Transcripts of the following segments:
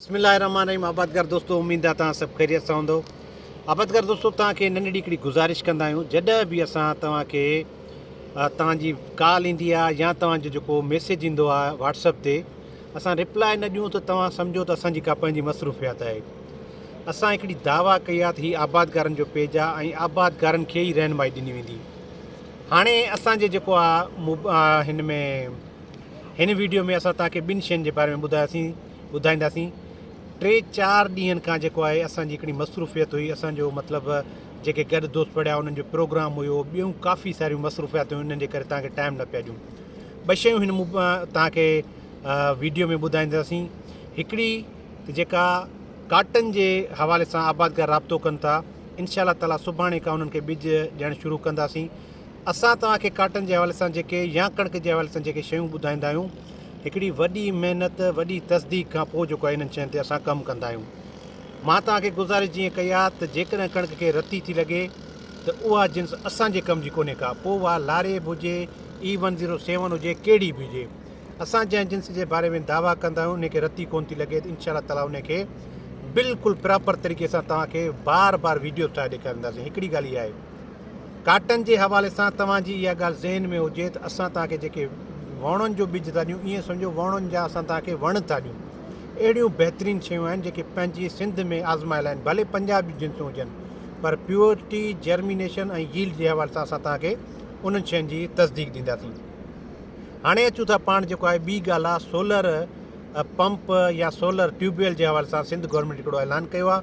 بسم الله الرحمٰن الرحيم آبادگار دوستو اميد آ توهان سڀ خيريت سان هوندؤ آبادگار دوستو توهان کي ننڍڙي هڪڙي گذارش ڪندا آهيون جڏهن به اسان توهان کي توهان جي ڪال ايندي آ يا توهان جو جيڪو ميسيج ايندو آ واٽس اپ تي اسان ريپلاء نه ڏيون ته توهان سمجهو ته اسان جي ڪا پنهنجي مصروفيات آهي اسان هڪڙي دعويٰ ڪئي آ ته هي آبادگارن جو پيج آ ۽ آبادگارن کي ئي رهنمائي ڏني ويندي هاڻي اسان جي جيڪو آ هن ۾ هن ويڊيو ۾ اسان توهان کي ٻن شين جي باري ۾ ٻڌاياسين ٻڌائينداسين ٽي چار ڏينهن کان جيڪو آهي اسان جي هڪڙي مصروفيت هئي اسان جو مطلب جيڪي گڏ دوست پڙهيا انهن جو پروگرام هيو ٻيون ڪافي ساريون مصروفيات هيون انهن جي ڪري تان کي ٽائم نه پيا ڏيون ٻه شيون هن تان کي ويڊيو ۾ ٻڌائينداسين هڪڙي ته جيڪا ڪاٽن جي حوالي سان آبادگار رابطو ڪن ٿا انشاء الله تعالی سڀاڻي کان انهن کي ٻج ڏيڻ شروع ڪنداسين اسان تان کي ڪاٽن جي حوالي سان جيڪي يا ڪڻڪ جي حوالي سان جيڪي شيون ٻڌائيندا آهيون هڪڙي وڏي محنت وڏي تصديق کان پوء جيڪو آهي انهن شين تي اسان ڪم ڪندا آهيون مان توهان کي گذارش جيئن ڪئي آهي ته جيڪڏهن ڪڻڪ کي رتي ٿي لڳي ته اها جنس اسان جي ڪم جي ڪونهي ڪا پوء اها لاريب هجي اي ون زيرو سيون هجي ڪهڙي به هجي اسان جنهن جنس جي باري ۾ دعويٰ ڪندا آهيون انهي کي رتي ڪونه ٿي لڳي ته انشاء الله تعالٰي انهي کي بلڪل پراپر طريقي سان توهان کي بار بار ويڊيوز ٺاهي ڏيکارينداسين هڪڙي ڳالهه اها آهي ڪاٽن جي حوالي سان توهان جي اها ڳالهه ذهن ۾ هجي ته اسان توهان کي جيڪي ووڻن جو ٻج ٿا ڏيون ائين سمجهو ووڻن جا اسان توهان کي وڻ ٿا ڏيون اهڙيون بهترين شيون آهن جيڪي پنهنجي سنڌ ۾ آزمايل آهن ڀلي پنجاهه به جنسون هجن پر پيورٽي جرمينيشن ۽ ييلڊ جي حوالي سان اسان توهان کي انهن شين جي تصديق ڏينداسين هاڻي اچون ٿا پاڻ جيڪو آهي ٻي ڳالهه آهي سولر پمپ يا سولر ٽيوب ويل جي حوالي سان سنڌ گورنمينٽ هڪڙو اعلان ڪيو آهي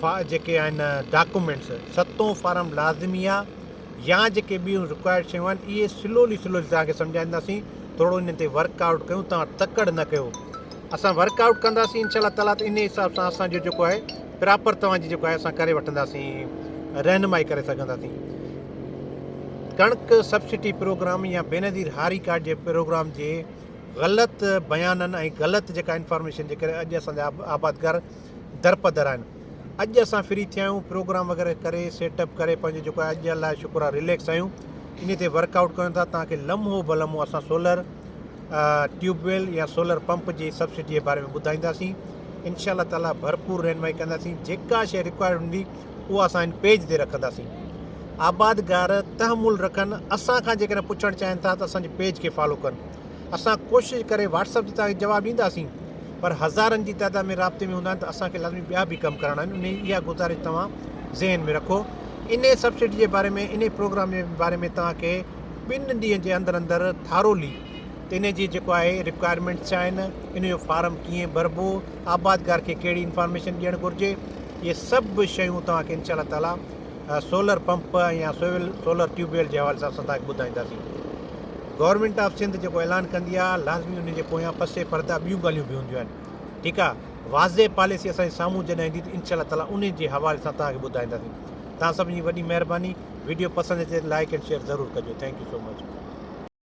فا جيڪي آهن ڊاڪومينٽس ستون فارم لازمي آ يا جيڪي ٻيون رڪوائرڊ شيون آهن اهي سلولي سلولي توهان کي سمجهائينداسين ٿورو انهن تي ورڪ آئوٽ ڪيون توهان تڪڙ نه ڪيو اسان ورڪ آئوٽ ڪنداسين انشاء الله تعالٰي ته انهي حساب سان اسان جو جيڪو آهي پراپر توهان جي جيڪو آهي اسان ڪري وٺنداسين رهنمائي ڪري سگهنداسين ڪڻڪ سبسڊي پروگرام يا بينظير هاري ڪارڊ جي پروگرام جي غلط بيانن ۽ غلط جيڪا انفارميشن جي ڪري اڄ اسان جا آبادگار درپدر آهن اڄ اسان فري ٿيا آهيون پروگرام وغيره ڪري سيٽ اپ ڪري پنهنجو جيڪو آهي اڄ الله جو شڪر آهي رليڪس آهيون انهي تي ورڪ آئوٽ ڪريون ٿا تان ڪي لمحو به لمحو اسان سولر ٽيوب ويل يا سولر پمپ جي سبسڊي جي باري ۾ ٻڌائينداسين انشاء الله تعالی ڀرپور رهنمائي ڪنداسين جيڪا شيء رڪوائرڊ هوندي اها اسان هن پيج تي رکنداسين آبادگار تحمل رکن اسان کان جيڪڏهن پڇڻ چاهين ٿا ته اسان جي پيج کي فالو ڪن اسان ڪوشش ڪري واٽس اپ تي توهان کي جواب ڏينداسين پر هزارن جي تعداد ۾ رابطي ۾ هوندا آهن ته اسان کي لازمي ٻيا به ڪم ڪرڻا آهن انهي اها گذارش توهان ذهن ۾ رکو انهي سبسڊي جي باري ۾ انهي پروگرام جي باري ۾ توهان کي ٻن ڏينهن جي اندر اندر ٿارولي انهي جي جيڪو آهي رڪوائرمينٽس ڇا آهن انهي جو فارم ڪيئن ڀربو آبادگار کي ڪهڙي انفارميشن ڏيڻ گهرجي اهي سڀ شيون توهان کي انشاء الله تعالي سولر پمپ يا سول سولر ٽيوب ويل جي حوالي سان اسان تهان کي ٻڌائينداسين. گورنمينٽ آف سنڌ جيڪو اعلان ڪندي آ لازمي ان جي پويان پسي پرده ٻيون ڳالهيون به هونديون آهن ٺيڪ آ واضح پاليسي اسان جي سامهون جڏهن ايندي ته انشاء الله تعالي انهي جي حوالي سان تهان کي ٻڌائينداسين تهان سڀني جي وڏي مهرباني ويڊيو پسند اچي ته لائيڪ اينڊ شيئر ضرور ڪجو ٿينڪ يو سو مچ.